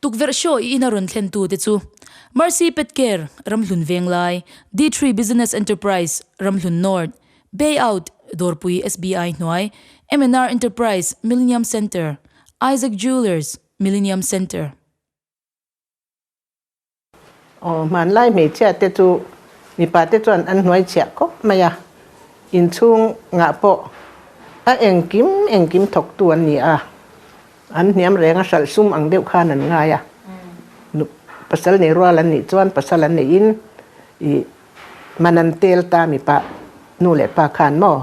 Tukverh show i ina rawn thlentu te chu, Mercy Pet Care, Ramhlun Venglai, D-Tree Business Enterprise, Ramhlun North, Bay Out, Dawrpui SBI hnuai, MNR Enterprise, Millenium Centre, Isaac Jewellers, Millenium Centre, Aw, hmanlai hmeichhia te chu mipa te chuan an hnuai chhiah khawp mai a, inchhung ngah pawh a engkim engkim thawk tu an ni a, an hniam reng a hralh sum ang deuh khan an ngai a, pasal nei rual an nih chuan pasal an nei in i hman an tel ta mipa nu leh pa khan maw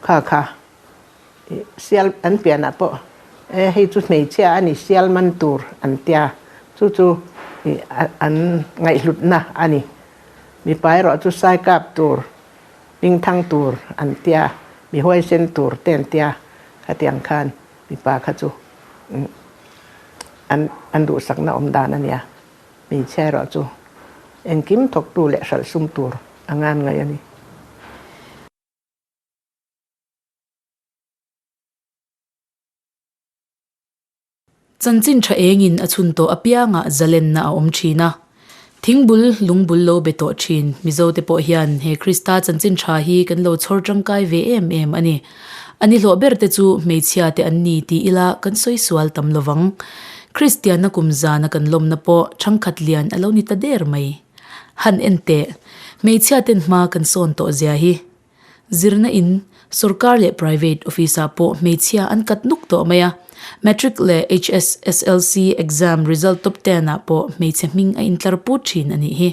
kha kha. Sial an pianah pawh hei chu hmeichhia a ni sial man tur an tia, chu chu an ngaihhlutna a ni. Mipa erawh chu saikap tur, hmingthang tur an tia, mi huaisen tur te an tia. Khatiang khan mipa kha chu an duhsakna awm dan a nia, hmeichhia erawh chu engkim thawktu leh hralhsum tur a nganngai a ni. Chanchin tha engin a chhun tawh apiangah zalenna a awm thin a. Thing bul, lung bul lo be tawh thin. Mizo te pawh hian he Krista chanchin tha hi kan lo chhawr tangkai ve em em a ni. A ni hlawh ber te chu hmeichhia te an ni tih ila kan sawi sual tam lo vang. Kristianna kum zana kan lawmna pawh thangkhat lian a lo ni ta der mai. Han en teh. Hmeichhia ten hma kan sawn tawh zia hi. Zirna in, sorkar leh private office ah pawh hmeichhia an kat nuk tawh mai a. Matric leh HSSLC exam result top ten ah pawh hmeichhe hming a intlar put thin a nih hi.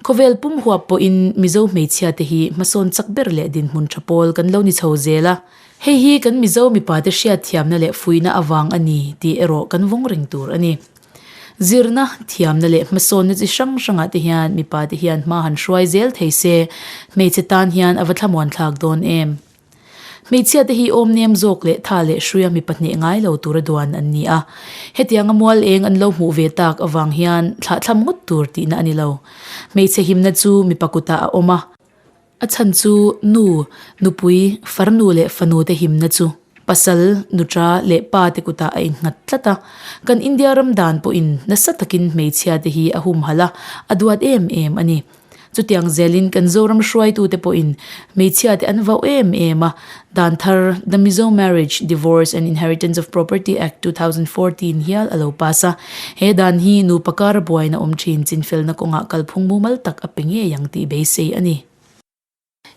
Khawvel pum huap pawhin Mizo hmeichhia te hi hmasawn chak ber leh dinhmun tha pawl kan lo ni chho zel a. Hei hi kan Mizo mipa te hriatthiamna leh fuihna avang a ni tih erawh kan vawng reng tur a ni. Zirna, thiamna leh hmasawnna chi hrang hrangah te hian mipa te hian hma han hruai zel thei se, hmeichhe tan hian a va thlamuanthlak dawn em? Hmeichhia te hi awmnem zawk leh tha leh hruia mi pahneh ngai lo tura duan an ni a, hetiang a mual eng an lo hmuh ve tak avang hian thlahthlam ngawt tur tihna a ni lo. Hmeichhe himna chu mipa kutah a awm a, A chhan chu nu, nupui, farnu leh fanute himna chu pasal, nuta leh pate kutah a innghat tlat a. Kan India ram dan pawhin nasa takin hmeichhiate hi a humhal a, a duat em em a ni. Chutiang zelin kan Zoram hruaitute pawhin hmeichhiate an vauh em em a, Dan thar, The Mizo Marriage, Divorce and Inheritance of Property Act, two thousand four tiin hial a lo pass a. He dan hi nupa kara buaina awm thin chinfelna kawngah kalphung mumal tak a pe ngei ang tih beisei a ni.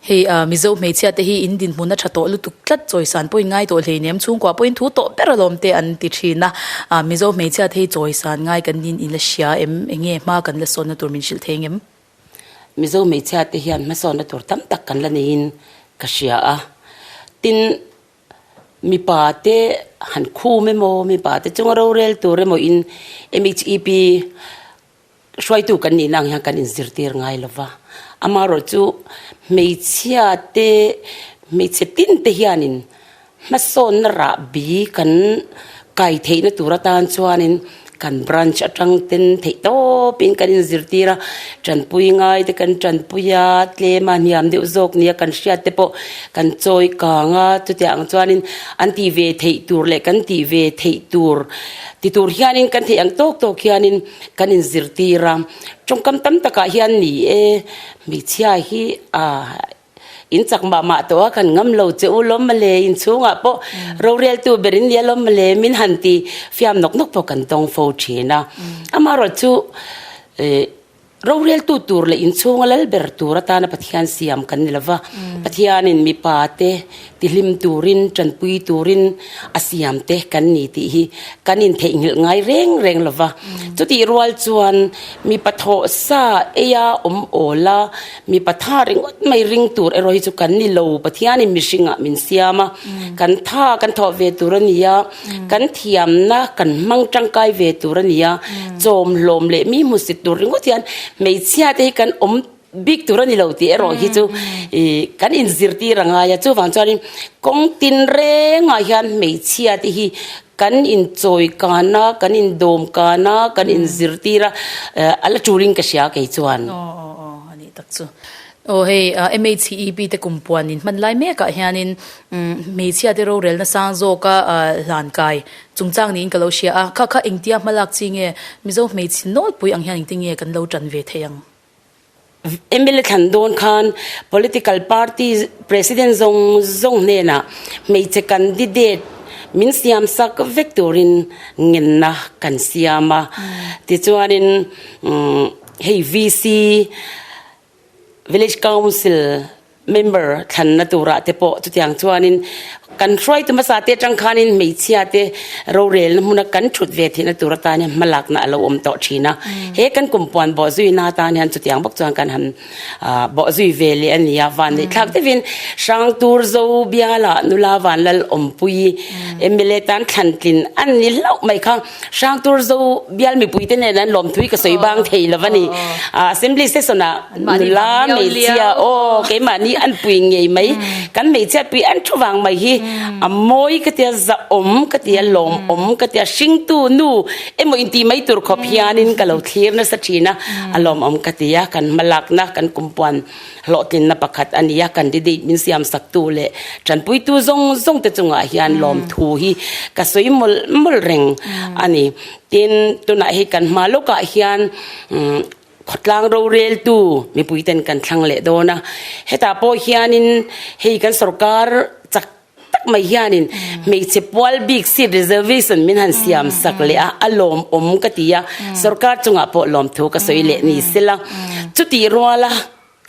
Hei a, Mizo hmeichhia te hi in dinhmun a tha tawh lutuk tlat, chawisan pawhin ngai tawh hleinem, chhungkua pawhin thu tawh ber alawm te an ti thin a. A, Mizo hmeichhia te hi chawisan ngai kan niin in la hria em, enge hma kan la sawnna tur min hrilh thei ang em? Mizo hmeichhia te hian hmasawnna tur tam tak kan la nei in ka hria a, tin mipa te han khum emaw, mipa te chunga rorel tur emaw in MHEP hruaitu kan nih na ang hian kan in zirtir ngai lo va, amarawh chu hmeichhia te hmeichhe tin te hian in Hmasawnna rah bi kan kai theihna tur atan chuanin kan branch atang ten theih tawpin kan inzirtir a, tanpui ngai te kan tanpui a, tlem a hniam deuh zawk nia kan hriat te pawh kan chawi kang a, chutiah ang chuanin an tih ve theih tur leh kan tih ve theih tur ti tur hianin kan theih ang tawk tawk hianin kan inzirtir a. Tawngkam tam takah hian ni e hmeichhia hi a. In chak mah mah tawh a kan ngam lo che u lawm male in chhungah pawh rorel tu ber in nia lawm male min han ti fiam nawk nawk pawh kan tawng fo thin a amarawt chu eh rorel tu tur leh in chhung a lal ber tur atana pathian siam kan ni lova pathianin mipa te. Tihlim turin, tanpui turin a siam te kan ni tih hi kan intheihnghilh ngai reng reng lo va. Chutih rual chuan mipa thawh sa eia awm awla mipa tha ringawt mai ring tur erawh hi chu kan ni lo, Pathianin mihringah min siam a, kan tha kan thawh ve tur a ni a, kan thiamna kan hmang tangkai ve tur a ni a, chawm hlawm leh mi hmusit tur ringawt hian hmeichhia te hi kan awm. Bik tur a ni lo tih erawh hi chu ihh kan inzirtir a ngai a, chuvang chuanin kawng tin rengah hian hmeichhia te hi kan inchawi kan a, kan indawm kan a, kan inzirtir a, a la turin ka hria kei chuan. Aw aw aw a nih tak chu. Aw hei MHCEB te kum puan in hman lai mekah hianin hmeichhia te rorelna sang zawka hlan kai chungchang niin ka lo hria a, kha kha engtia hmalak chi nge Mizo hmeichhe nawlpui ang hian engtinge kan lo tan ve thei ang? mla thlan dawn khan political party president zawng zawng hnenah hmeichhe candidate min siam sak vek turin ngenna kan siam a tichuanin umm hei V C village council -- Member thlanna turah te pawh chutiang chuanin kan hruaitu hmasa te atang khanin hmeichhia te rorelna hmuna kan thut ve theihna tur atan hian hma lakna a lo awm tawh thin a. He kan kumpuan bawh zuina atan hian chutiang bawk chuan kan han bawh zui ve leh a nia. Van leh thlak deuh in Hrang tur Zo biala nula vanlal awmpui mla tan thlantlin a ni hlauh mai kha. Hrang tur zo bial mipui te nen an lawmthui ka sawi bang thei lo a ni. A assembly session ah nula hmeichhia aw keimahni an pui ngei mai. Kan hmeichhia pui en thu vang mai hi a mawi ka tia zahawm ka tia lawmawm ka tia hringtu nu emaw inti mai tur khawp hianin ka lo thlir nasa thin a a lawmawm ka tia kan hmalakna kan kumpuan. Hlawhtlinna pakhat a ni a, candidate min siam sak tu leh tanpuitu zawng zawng te chungah hian lawmthu hi ka sawi mawlh mawlh reng a ni. Tin, tunah hi kan hma lawkah hian khawtlang roreltu mipui ten kan thlang leh dawn a. Hetah pawh hianin hei kan sawrkar chak. tak mai hianin hmeichhe pual bik seat reservation min han siam sak leh a a lawm awm ka ti a sorkar chungah pawh lawmthu ka sawi leh ni se la chutih ruala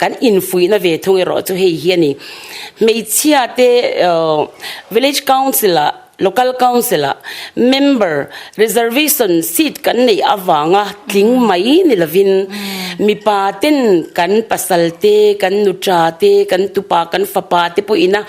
kan infuihna ve thung erawh chu hei hi a ni hmeichhia te village council ah local council ah member reservation seat kan neih avanga tling mai ni lovin mipa ten kan pasal te kan nu ṭa te kan tupa kan fapa te pawh ina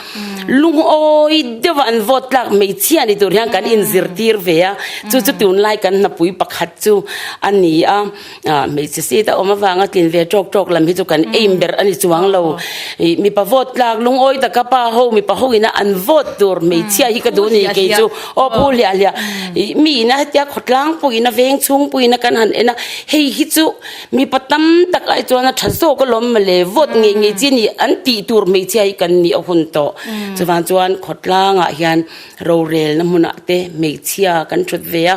Lungawi deuh a an vote tlak hmeichhia a ni tur hian kan inzirtir ve a, chu chu tunlai kan hnapui pakhat chu a ni a, hmeichhe seat a awm avanga tlin ve tawk tawk lam hi chu kan aim ber a ni chuang lo. Ih mipa vote tlak lungawi taka pa ho mipa ho ina an vote tur hmeichhia hi ka duh anih kei chu aw phu hliah hliah, ih mi ina hetia khawtlang pawh ina veng chhung pawh ina kan han en a, hei hi chu Mipa tam tak lai chuan a tha zawk alawm mawle, vote ngei ngei chi a nih an tih tur hmeichhia hi kan nih a hun tawh. Chuvang chuan khawtlangah hian rorelna hmunah te hmeichhia kan thut ve a,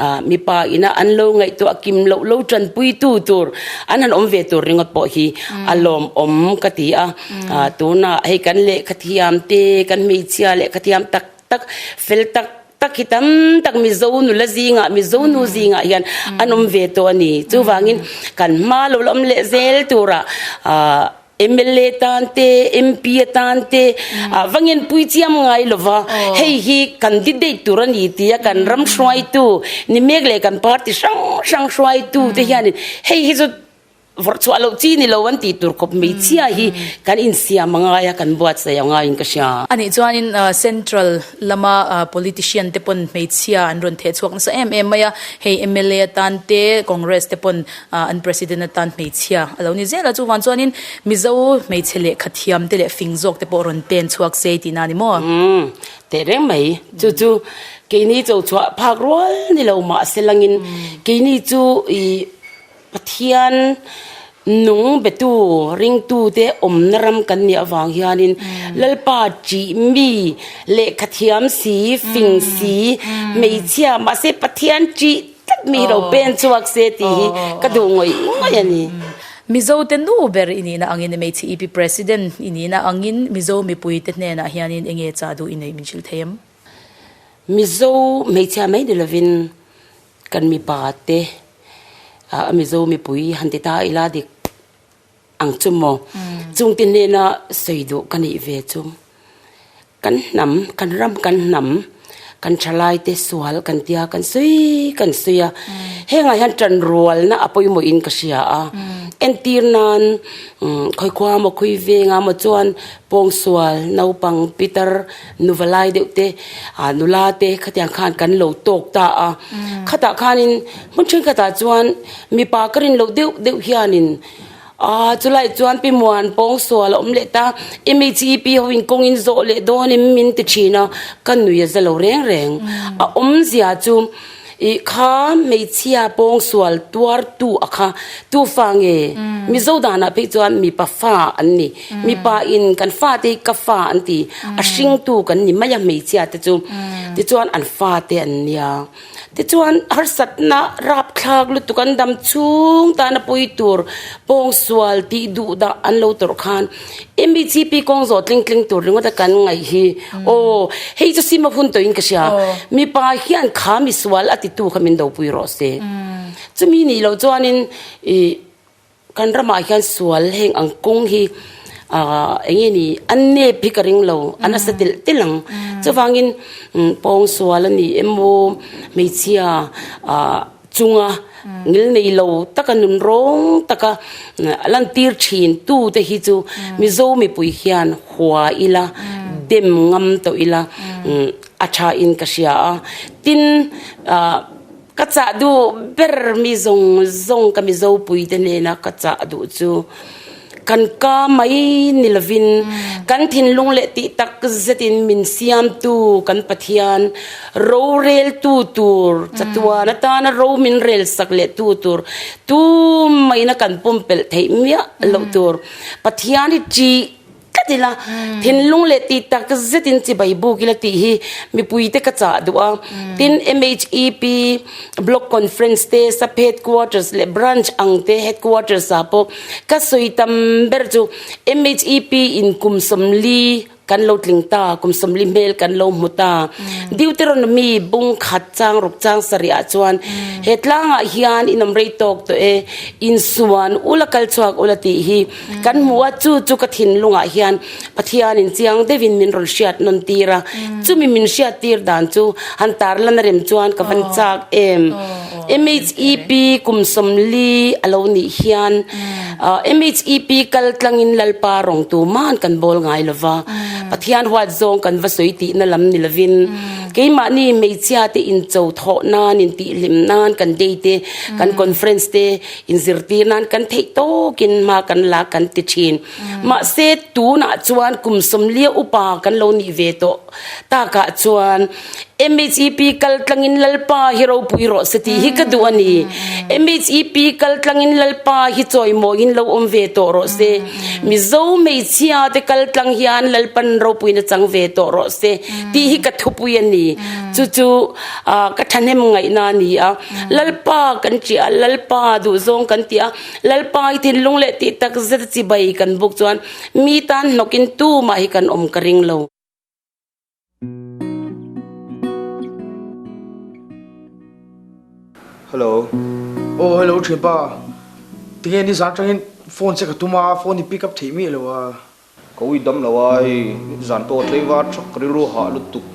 ah mipa ina an lo ngaihtuah kim loh lo tanpuitu tur an han awm ve tur ringawt pawh hi a lawmawm ka ti a. Tunah hei kan lehkha thiam te, kan hmeichhia lehkha thiam tak tak fel tak tak hi tam tak mizo nula zinga mizo nu zinga hian anom ve tawh a ni chuvangin kan hma lo awm leh zel tura ah mla tan te MP atan te ah vangin pui chiam ngai lova hei hi candidate tur a ni tia kan ram hruai tu ni mek leh kan party hrang hrang hruai tu te hianin hei hi chu Vawrh chhuah loh chi ni lo an tih tur kawp hmeichhia hi kan insiam a ngai a, kan buatsaih a ngaiin ka hria. A nih chuanin Central lama politician te pawn hmeichhia an rawn thehchhuak nasa em em mai a, hei mla atan te Congress te pawn an President atan hmeichhia a lo ni zel a, chuvang chuanin Mizo hmeichhe lehkha thiam te leh fing zawk te pawh rawn pen chhuak sei tihna a ni maw? Umm teh reng mai, chu chu keini cho chhuah phak rual ni lo mahse langin keini chu ih Pathian nung betu ringtute awmna ram kan nih avang hianin Lalpa tih mi lehkha thiam si, fing si, hmeichhia mahse Pathian tih tak mi hi lo pen chhuak se tih hi ka duh ngawih ngawih a ni. Mizote nu ber i nihna angin hmeichhe i pi President i nihna angin Mizo mipuite hnenah hianin enge chah duh i neih min hrilh thei em? Mizo hmeichhia mai ni lovin Kan mipa te a Mizo mipui han ti ta a ila dik ang chu maw? Chung te hnena sawi duh ka neih ve chu. Kan hnam, kan ram kan hnam, kan tha lai te sual kan tia kan sawi kan sawi a. Hengah hian tanrualna a pawimawh in ka hria a. Entir nan khawikhua maw, khawiveng a maw chuan pawngsual, naupang pitar, Nuvalai deuh te, a nula te khatiang khan kan lo tawk ta a. Khatah khanin hmun then khatah chuan mipa ka rin loh deuh deuh hianin a chulaiah chuan pi muan pawng sual a awm leh ta, MECEP ho in kawng in zawh leh dawn em min ti thin a, ka nuia za lo reng reng. A awmzia chu. Ih kha hmeichhia pawng sual tuar tu a kha tu fa nge mizo dan ah phei chuan mipa fa an ni mipa in kan fa te hi ka fa an ti a hring tu kan ni mai a hmeichhia te chu ti chuan an fa te an nia ti chuan harsat na rap thlak lutuk an dam chhung tan a pui tur pawng sual tih duh dah an lo tawrh khan MECP kawng zawh tling tling tur ringawt a kan ngaih hi aw hei chu sima hun tawhin ka hria mipa hian kha misual a ti tu kha min do pui rawh se chumi nih loh chuan in ih kan ram ah hian sual heng ang kawng hi ah eng nge ni an nep hi ka ring lo a nasa telh telh ang chuvang in pawng sual a nih emaw hmeichhia ah chunga ngil nei lo taka nun rawng taka a lan tir thin tu te hi chu mizo mipui hian hua ila dem ngam tawh ila a tha in ka hria a tin ah ka chah duh ber mi zawng zawng ka mizo pui te nena ka chah duh chu Kan ka mai ni lovin kan thinlung leh tih tak zetin min siamtu kan Pathian roreltu tur chatuan atana ro min relsak lehtu tur tumaina kan pumpelh theih miah loh tur Pathian i ṭi tlat ila thinlung leh tih tak zetin chibai buk ila tih hi mipuite ka chah duh a. Tin MHEP block conference te Saphet quarters leh branch ang te headquarters ah pawh. Ka sawi tam ber chu MHEP in kum sawmli kan lo tling ta, kum sawmli hmel kan lo hmu ta. Deuteronomy bung khat chang ruk chang sarih ah chuan he tlâng ah hian in awm rei tawk tawh e, in suan ula kal chhuak ula tih hi kan hmu a, chu chu ka thinlung ah hian Pathianin chiang deuhin min rawn hriat nawn tir a, chumi min hriat tir dan chu han tar lan a rem chuan ka van chak em. MHEP kum sawmli a lo nih hian MHEP kal tlangin Lalpa rawng tu man kan bawl ngai lo va, Pathian huat zawng kan va sawi tihna lam ni lovin keimahni hmeichhia te incho thawh nan, intihhlim nan, kan day te, kan conference te inzir tir nan kan theih tawkin hma kan la kan ti thin. Mahse, tunah chuan kum sawmlia upa kan lo nih ve tawh takah chuan MHEP kal tlangin Lalpa hi ropui rawh se tih hi ka duh a ni. MHEP kal tlangin Lalpa hi chawimawiin lo awm ve tawh rawh se. Mizo hmeichhia te kal tlang hian Lalpa in ropui nachang ve tawh rawh se tih hi ka thupui a ni. Chu chu ka thahnem ngaihna a ni a. Lalpa kan tih a, Lalpa duhzawng kan tih a. Lalpangai thinlung leh tih takzet chi bai kan buk chuan mi tan hnawkin tumah hi kan awm ka ring lo. Hello. Aw hello thinpa, tinge nizan atangin phone che ka tum a, phone i pick up theih miah lo a. Ka ui dam lo a, hei zan pawh tlei var thak ka rilru hah lutuk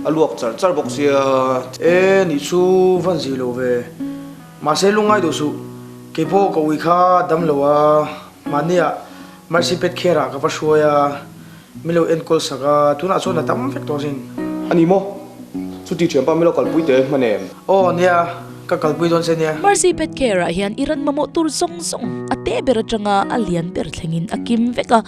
a luak charh charh bawk sia. E, nih chu van zih lo ve. Mahse lungngai duh suh, kei pawh ka ui kha a dam lo a, mahnia Mercy pet kher ah ka va hruai a, mi lo en kawlsak a, tunah chuan a tam vek tawh sin. Ani maw? Chuti thiam pah mi lo kalpui teh e hman em? Aw nia, ka kalpui dawn se nia. Mercy pet care ah hian i ran mamawh tur zawng zawng a teh ber atanga a lian ber thlengin a kim vek a,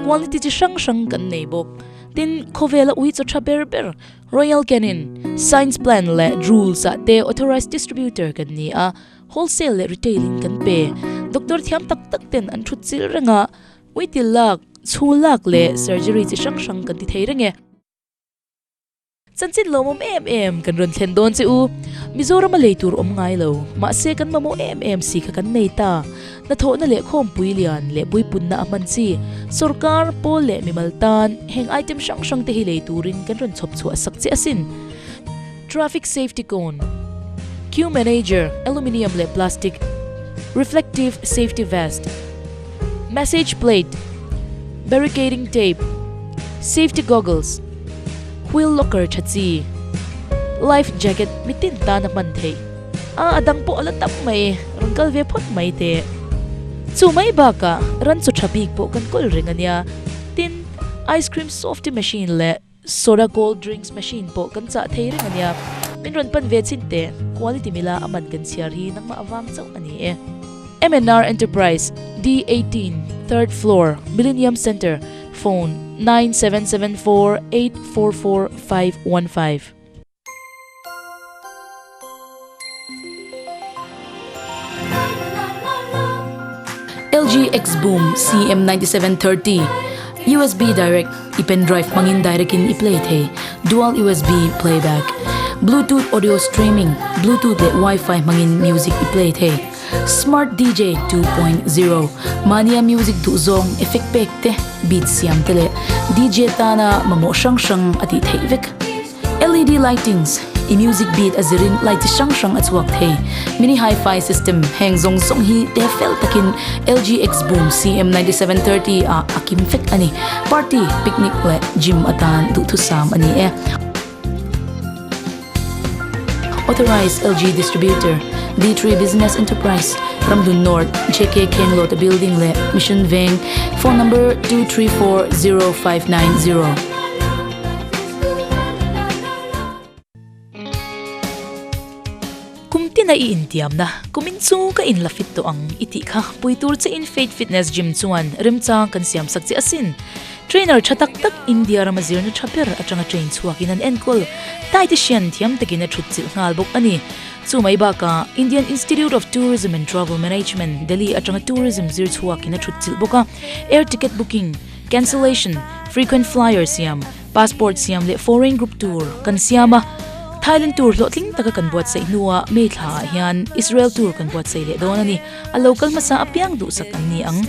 quality chi hrang hrang kan nei bawk. Tin, khawvel a ui chawtha ber ber. Royal Canin, Science Plan leh Drools ah te authorised distributor kan ni a, wholesale leh retail in kan pe. Doctor thiam tak tak ten an thut chil reng a, uitil lak, chhul lak leh surgery chi hrang hrang kan ti thei reng e. Chanchin lo mawm em em kan rawn thlen dawn che u. Mizorama lei tur awm ngai lo. Mahse kan mamawh em em si kha kan nei ta. Hnathawhna leh khawmpui lian leh puipunna a hman chi. Sorkar, pawl leh mimal tan heng item hrang hrang te hi lei turin kan rawn chhawp chhuah sak che asin. Traffic safety cone, queue manager, aluminium leh plastic reflective safety vest, Message plate, barricading tape, safety goggles, wheel locker tha chi, life jacket mi tin tan a hman thei. A a dang pawh a la tam mai, rawn kal ve phawt mai teh. Chu mai bakah ran chu tha bik pawh kan kawl reng a nia. Tin, ice cream softy machine leh. Soda cold drinks machine pawh kan chah thei reng ania. Min rawn pan ve chin teh. Quality mila a man kan chhiar hi nangmah avang chauh ani e. MNR Enterprise, D eighteen, third floor, Millennium Centre, phone, nine seven seven four eight four four five one five. LG Xboom CM97 30 USB direct i pen drive hmangin direct in i play thei dual USB playback bluetooth audio streaming bluetooth leh wifi hmangin music i play thei smart DJ 2.0 mania music duh zawng effect pack te beat siam te leh DJ tana mamawh hrang hrang a tih theih vek LED lightings i music beat a zir in light chi hrang hrang a chhuak thei. Mini Hi-Fi system heng zawng zawng hi te fel tak in LG X Boom CM ninety seven thirty ah a kim fek a ni. Party, picnic leh gym atan duhthusam a ni e. Authorised LG Distributor, D three Business Enterprise, Ramhlun North, JK Khenglawta Building leh Mission Veng, Phone number two three four zero five nine zero. Kum tina i intiamna, kumin chu ka in la fit tawh ang i tih kha. Pui tur che in Fate Fitness Gym chuan remchang kan siamsak che asin. Trainer tha tak tak India rama zirna tha ber atanga train chhuakin an enkawl. Thai te hrian thiam takin a thutchilh nghal bawk a ni. Chu mai bakah Indian Institute of Tourism and Travel Management, Delhi atanga tourism zir chhuakin a thutchilh bawk a. Air ticket booking. Cancellation, Frequent flyer siam, Passport siam leh Foreign group tur kan siam a, Thailand tur hlawhtling taka kan buatsaih hnua May thla ah hian Israel tur kan buatsaih leh dawn a ni. A lo kal hmasa apiang duhsak an ni ang.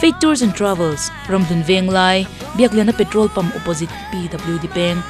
Fake tours and travels, Ramhlun venglai, Biakliana petrol pump opposite PWD peng.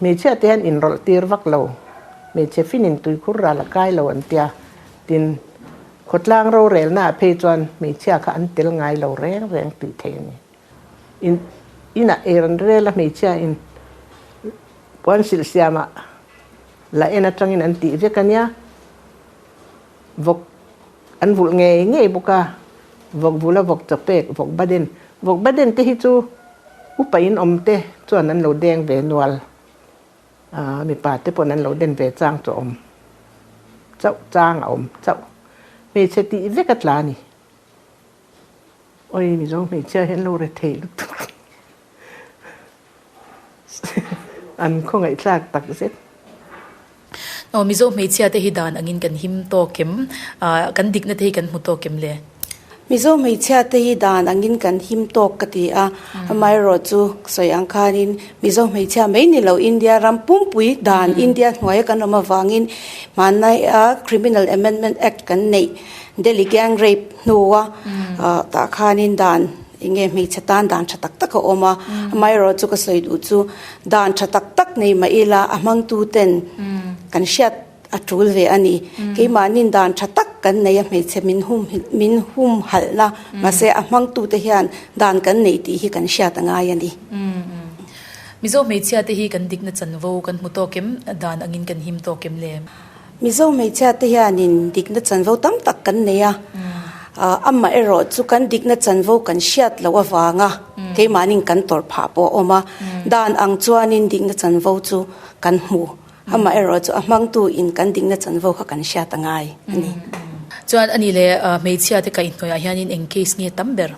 Hmeichhia te an inrawlh tir vak lo, hmeichhe fin in tui khur ral a kai lo an tia. Tin, khawtlang rorelna ah phei chuan hmeichhia kha an tel ngai lo reng reng tih theih a ni. In inah er an rel a hmeichhia in puan silh siam ah la en atangin an tih vek a nia. Vawk an vulh ngei ngei bawk a, vawk vula vawk chawk pek, vawk baden. Vawk baden te hi chu upa in awm te chuan an lo deng ve nual a, mipa te pawh an lo den ve chang chu a awm chauh, chang a awm chauh. Hmeichhe tih vek a tla a ni. Awi mizo hmeichhia hi an lo re thei lutuk hi an khaw ngaihthlak tak zet. Aw mizo hmeichhia te hi dan angin kan him tawk em? Kan dikna te hi kan hmu tawk em le? Mizo hmeichhia te hi dan angin kan him tawk ka ti a, amaherawh chu sawi ang khanin mizo hmeichhia mai ni lo India ram pumpui dan India hnuaia kan awm avangin hmanlaia Criminal Amendment Act kan neih Delhi gang rape hnua tah khanin dan enge hmeichhe tan dan tha tak tak a awm a, amaherawh chu ka sawi duh chu dan tha tak tak nei mah ila a hmangtu ten kan hriat a tul ve a ni. Keimahnin dan tha tak kan nei a hmeichhe min hum min hum halh na mahse a hmangtu te hian dan kan nei tih hi kan hriat a ngai a ni. Mizo hmeichhia te hi kan dikna chanvo kan hmu tawk em dan angin kan him tawk em le? Mizo hmeichhia te hian in dikna chanvo tam tak kan nei a, amah erawh chu kan dikna chanvo kan hriat loh avang a keimahnin kan tawrh phah pawh a awm a, dan ang chuan in dikna chanvo chu kan hmu, amah erawh chu a hmang tu in kan dikna chanvo kha kan hriat angai a ni. Chuan ani leh hmeichhia te kaihhnawih ah hian in eng case nge tam ber?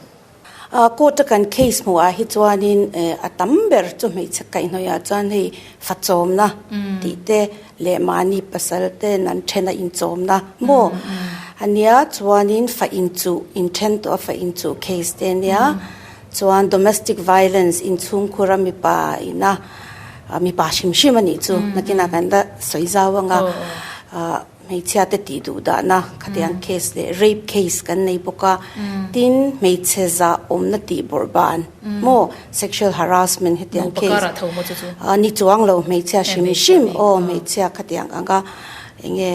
A, court a kan case hmuh ah hi chuanin eh a tam ber chu hmeichhe kaihhnawih ah chuan hei fachawmna tih te leh mahni pasal ten an then a inchawmna maw a nia chuanin fa inchuh inthen tawh a fa inchuh case te nia chuan domestic violence inchhungkhur a mipa ina mipa hrim hrim a nih chu nakin ah kan la sawi zau ang a ah Hmeichhia te tih duh dahna khatiang case leh rape case kan nei bawk a, tin hmeichhe zah awmna tih bawrh ban maw sexual harassment hetiang case. Naupakar ah tho maw chu chu? Aw ni chuang lo hmeichhia hrim hrim aw hmeichhia khatiang ang a enge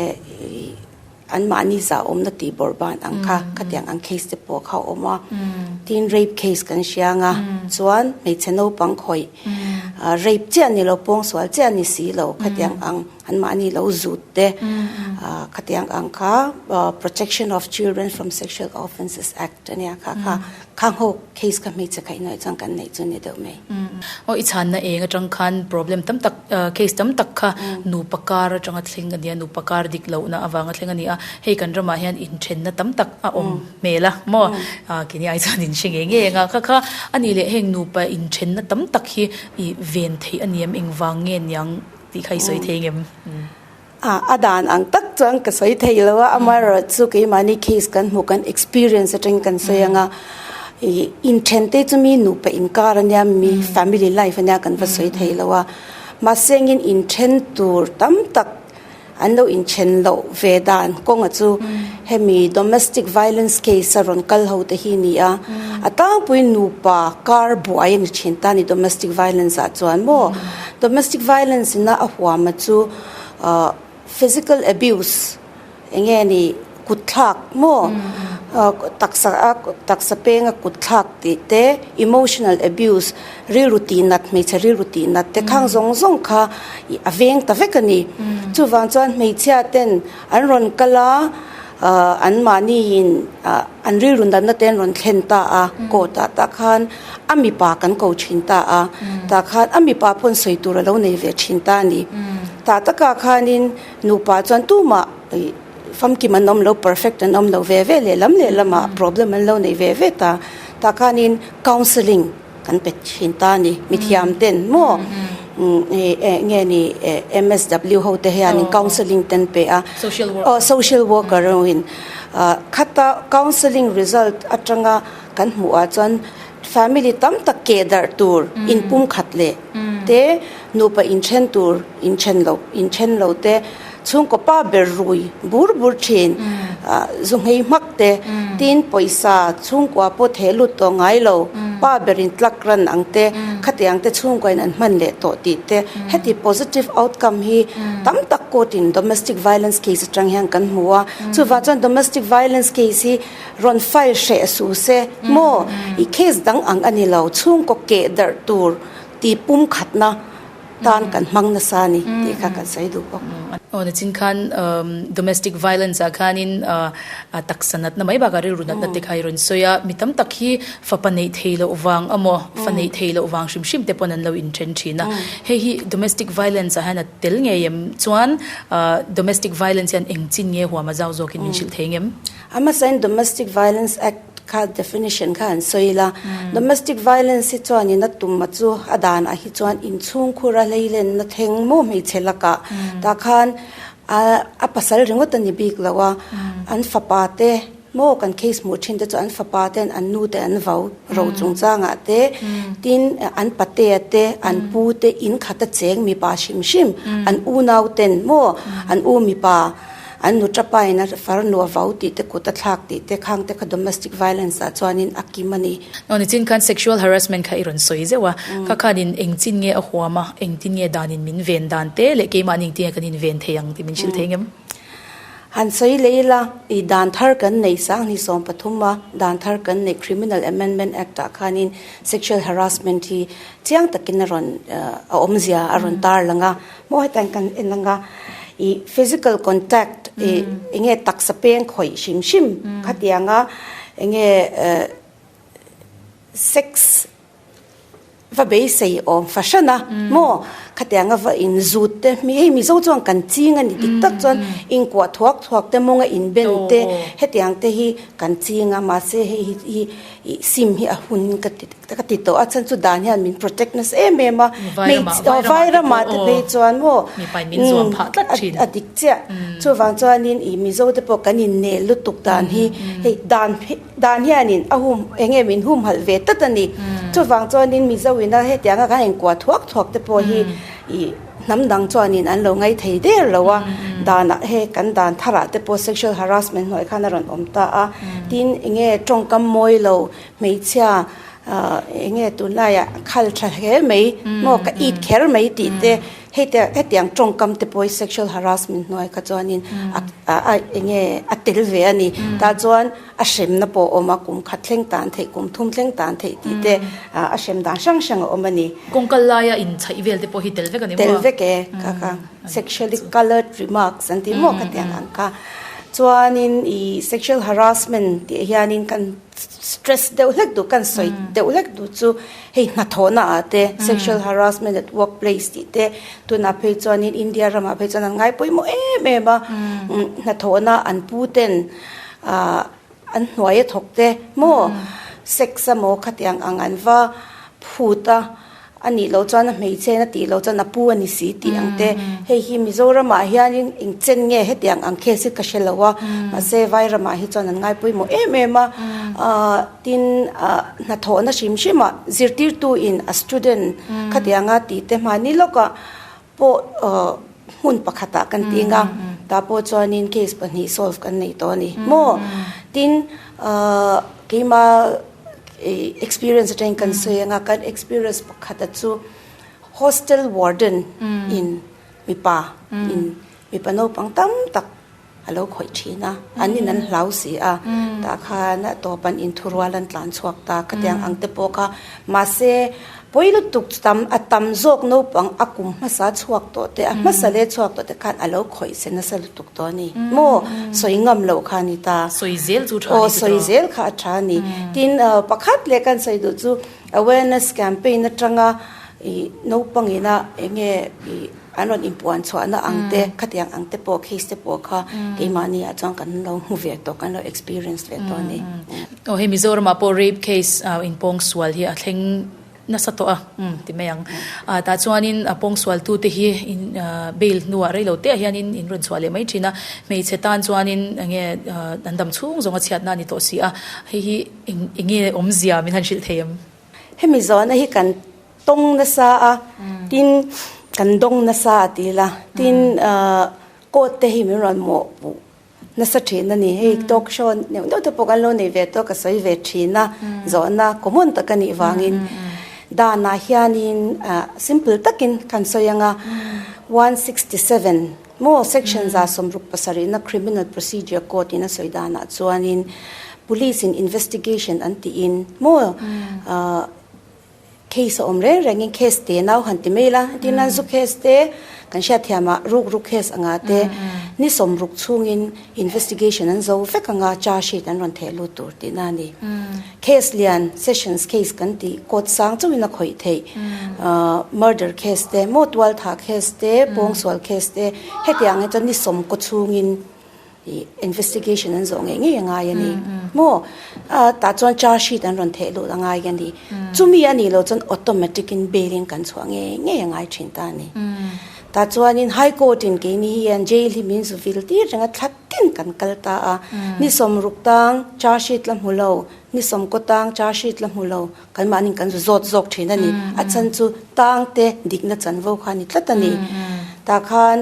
an mahni zah awmna tih bawrh ban ang kha khatiang ang case te pawh kha a awm a, tin rape case kan hria ang a chuan hmeichhe naupang khawih rape chiah ni lo pawngsual chiah ni si lo khatiang ang. An mahni lo zut te khatiang ang kha Protection of Children from Sexual Offences Act ania kha kha kha ngo case kha hmeichhe kha inawih chuan kan neih chu ni deuh mai. Aw i chhanna eng atang khan problem tam tak case tam tak kha nupa kar atanga thleng ania nupa kar dik lohna avanga thleng ania hei kan ramah hian inthenna tam tak a awm hmel a maw kini ai chuan in hre nge nge anga kha kha ani leh heng nupa inthenna tam tak hi i ven theih aniam engvang nge niang. Tih kha i sawi thei ngem. Ah, a dan ang tak chuan ka sawi thei lo a, amaherawhchu chu keimahni case kan hmuh kan experience atangin kan sawi ang a, i inthen te chu mi nupa inkar ania, mi family life ania kan va sawi thei lo a, mahse angin inthen tur tam tak an lo inthen loh ve dan kawnga chu hemi domestic violence case a rawn kal ho te hi a ni a, a tangpuiin nupa kar buai a ni thin ta a ni domestic violence ah chuan maw. Domestic violence ina a huama chu physical abuse enge ni kut thlak maw taksa a taksa penga kut thlak tih te emotional abuse rilru tih nat hmeichhe rilru tih nat te khang zawng zawng kha a veng ta vek a ni chuvang chuan hmeichhia ten An rawn kal a, ah an mahni in ah an rilru natna te an rawn thlen ta a, court ah tah khan a mipa kan ko thin ta a, tah khan a mipa paw'n sawi tur a lo nei ve thin ta a ni. Tah takah khanin nupa chuan tumah ih famkim an awm lo, perfect an awm lo ve ve, lehlam lehlamah problem an lo nei ve ve ta, tah khanin counselling, Kan pe thin ta a ni. Mithiam te an maw? Eng nge ni MSW ho te hian in counselling te an pe a. Social worker. Aw social worker ho in khata counselling result atanga kan hmuh ah chuan family tam tak ke darh tur in pum khat leh te nupa in then tur in then lo in then lo te. Chhungkaw pa ber rui bur bur thin, zu nghei hmak te, tin pawisa chhungkua pawh theh lut tawh ngai lo, pa ber in tlak ran ang te, khatiang te chhungkua in an hman leh tawh tih te, heti positive outcome hi tam tak court in domestic violence case atang hian kan hmu a, chuvah chuan domestic violence case hi rawn file hreh suh se maw, i case dang ang a ni lo, chhungkaw keh darh tur tih pum khatna. tan kan hmang nasa a ni tih kha kan sawi duh bawk. Aw nichin khan domestic violence ah khanin a taksa natna mai bakah rilru natna te kha i rawn sawi a, mi tam tak hi fapa neih thei loh vang emaw fa neih thei loh vang hrim hrim te pawn an lo in then thin a, hei hi domestic violence ah hian a tel ngei em chuan domestic violence hian eng chin nge huam a zau zawk in min hrilh thei ang em? A hmasain Domestic Violence Act kha definition kha an sawi ila, Domestic Violence hi chuanin a tum a chu a danah hi chuan inchhungkhur a hleilenna theng maw hmeichhe lakah tah khan a pasal ringawt a ni bik loh a, an fapa te maw kan case hmuh thin te chu an fapa te, an nu te, an vau ro chung changah te, tin an patea te, an pu te, inkhata cheng mipa hrim hrim, an unaute maw, an u mipa. An nu tapa ina far nuah vau tih te kut a thlak tih te khang te kha domestic violence ah chuanin a kim a ni. Naw nichin khan sexual harassment kha i rawn sawi zeuh a, kha khanin eng chin nge a huam a, eng tin nge danin min ven dan te leh keimahni engtin nge kan inven thei ang tih min hrilh thei ngam. Han sawi leh ila, i dan thar kan neih sang hnih sawm pathum a dan thar kan neih Criminal Amendment Act ah khanin sexual harassment hi chiang takin a rawn a awmzia a rawn tarlang a. Maw hetlaiin kan en ang a, i physical contact i eng nge taksa peng khawih hrim hrim khati ang a, eng nge sex va beisei awm fahran a maw khati ang a va inzut te, hei mizo chuan kan ching a ni dik tak chuan inkuah thuak thuak te mawnga inben te heti ang te hi kan ching a mahse hei hi. I sim hi a hun ka ti ka ti tawh a chhan chu dan hian min protect nasa em em a vai ramah te phei chuan maw a dik chiah chuvang chuan in i mizo te pawh kan in nel lutuk dan hi hei dan dan hian in a hum eng nge min hum halh ve tawt a ni chuvang chuan in mizo in a hetianga kan in kua thuak thuak te pawh hi i. Hnam dang chuanin an lo ngaithei der lo a, danah he kan dan tharah te pawh sexual harassment hnuai khan a rawn awm ta a, tin enge tawngkam mawi lo hmeichhia enge tunlai ah khal tha hle mai maw ka it kher mai tih te heti hetiang tawngkam te pawh sexual harassment hnuai kha chuanin a enge a tel ve a ni tah chuan. a hremna pawh a awm a, kum khat thleng tan theih, kum thum thleng tan theih tih te a hrem dan hrang hrang a awm a ni. Kawng kal laia inchhaih vel te pawh hi tel vek a ni maw? Tel vek e, ka ka sexually coloured remarks an tih maw ka tiang ang kha. Chuanin i sexual harassment tih hianin kan stress deuh hlek duh, kan sawi deuh hlek duh chu hei hnathawhna ah te, sexual harassment at workplace tih te, tunah phei chuanin India ramah phei chuan an ngaipawimawh em em a. Hnathawhna an pu ten. Ahh an hnuai a thawk te maw sex a maw khati ang ang an va phut a, a nih loh chuan a hmeichhe a tih loh chuan a pu a ni si tih ang te hei hi Mizoramah hianin engchen nge heti ang ang case hi ka hre lo a, mahse vai ramah hi chuan an ngai pawimawh em em a, ahh tin ahh hnathawhna hrim hrimah zirtirtuin a student khati anga tihte hmani lawkah. pawh hmun pakhatah kan tih nga tah pawh chuanin case pahnih solve kan nei tawh a ni maw tin keima experience atangin kan sawi anga kan experience pakhata chu hostel warden in mipa in mipa naupang tam tak A lo khawih thin a, an in an hlau si a, tah khan tawp an in thu rual an tlan chhuak ta ka tiang ang te pawh kha. Mahse, pawi lutuk tam a tam zawk naupang a kum hmasa chhuak tawh te, a hmasa leh chhuak tawh te khan a lo khawih se nasa lutuk tawh a ni. Maw? Sawi ngam loh kha a ni ta. Sawi zel chu a tha a ni chu tawh. Aw, sawi zel kha a tha a ni. Tin, pakhat leh kan sawi duh chu awareness campaign atanga naupang ina eng nge ih. An rawn inpuan chhuahna ang te, khati ang ang te pawh, case te pawh kha keimahniah chuan kan lo hmu ve tawh, kan lo experience ve tawh a ni. Aw, hei Mizoramah pawh rape case in pawng sual hi a thleng nasa tawh a, ti mai ang. Tah chuanin a pawng sualtute hi bail hnuah rei lo teh ah hianin in rawn chhuah leh mai thin a, hmeichhe tan chuanin eng nge an dam chhung zawnga chhiatna a ni tawh si a, hei hi eng nge awmzia min han hrilh thei em? Hemi zawhna hi kan. Tawng nasa a, tin kan dawng nasa a ti la. Tin court te hi min rawn mawh puh nasa thin a ni. Hei talk show neuh neuh te pawh kan lo nei ve tawh a, ka sawi ve thin a, zawhna common tak a nih vangin. Danah hianin simple takin kan sawi ang a, one sixty seven maw, section za sawmruk pasarihna criminal procedure court in a sawi danah chuanin police in investigation an tiin maw, Case a awm reng rengin case te nau han ti mai la, tin nan zu case te kan hriat thiam a ruk ruk case anga te ni sawm ruk chungin investigation an zo vek anga charge sheet an rawn theh lut tur tih na a ni. Case lian sessions case kan ti court sang chauhin a khawih theih murder case te maw tual thah case te pawngsual case te hetiang hi chuan ni sawm kaw chungin Investigation an zawh ngei ngei a ngai a ni maw? Tah chuan charge sheet an rawn theh lut a ngai a ni. Chumi a nih loh chuan automatic in bail in kan chhuah ngei ngei a ngai thin ta a ni. Tah chuan in High Court in keini hian jail hi min zu vil tir reng a thlatin kan kal ta a. Ni sawm ruk tang charge sheet la hmu lo, ni sawm kaw tang charge sheet la hmu lo. Kan mahni kan zawt zawk thin a ni. A chhan chu tang te dikna chan vo kha a ni tlat a ni. Tah khan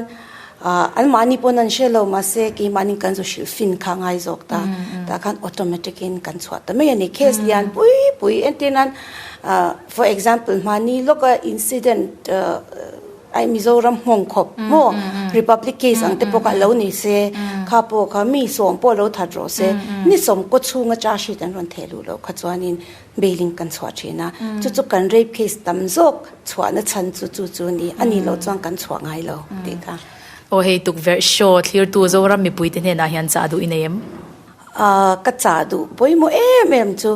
an mahni pawn an hre lo mahse keimahni kan zu hrilh fin kha a ngai zawk ta. Tah khan automatic in kan chhuah ta mai a ni. Case lian pui pui entirnan for example mahni lawka incident I Mizoram nghawng khawp maw? Republic case ang te pawh kha alo nei se, kha pawh kha mi sawm pawh alo that rawh se, ni sawm kaw chhunga charge sheet an rawn theh luh loh kha chuanin bailing kan chhuah thin a, chu chu kan rape case tam zawk chhuahna chhan chu chu chu ni, a nih loh chuan kan chhuah ngai lo tih ka. Aw hei tukverh show thlir tu Zoram mipui te hnenah hian chah duh i nei em? Aa, ka chah duh pawimawh em em chu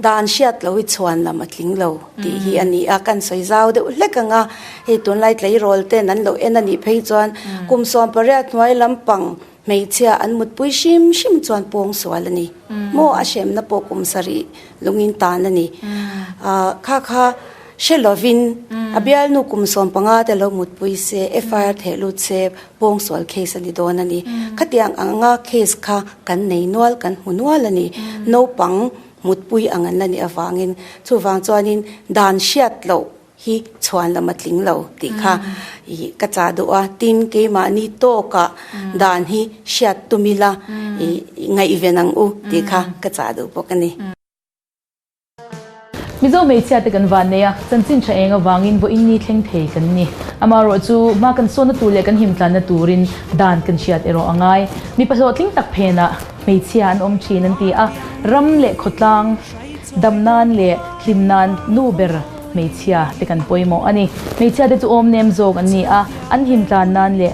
dan hriat lo i chhuan lam a tling lo tih hi a ni a, kan sawi zau deuh hlek ang a, hei tunlai tleirawl ten an lo en a nih phei chuan kum sawmpariat hnuai lampang hmeichhia an mutpui hrim hrim chuan pawng sual a ni maw, a hremna pawh kum sarih lungin tan a ni. Aa, kha kha hre lovin a bialnu kum sawmpanga te lo mutpui se, FIR theh lut se, Pawng sual case a ni dawn a ni. Khatiang anga case kha kan nei nual, kan hmu nual a ni. Naupang mutpui ang an la nih avangin chuvang chuanin dan hriat loh hi chhuan lam a tling lo tih kha ih ka chah duh a. Tin, keimahni tawkah dan hi hriat tum ila ih ngaih ve nang u tih kha ka chah duh bawk a ni. Mizo hmeichhiate kan van nei a, chanchin tha eng avangin vaw inni thleng thei kan ni. Amah rawh chu hma kan sawnna tur leh kan him tlanna turin dan kan hriat erawh a ngai. Mipa hlawhtling tak phenah hmeichhia an awm thin an ti a, ram leh khawtlang dam nan leh hlim nan nu ber hmeichhia te kan pawimawh a ni. Hmeichhiate chu awmnem zawk an ni a, an him tlan nan leh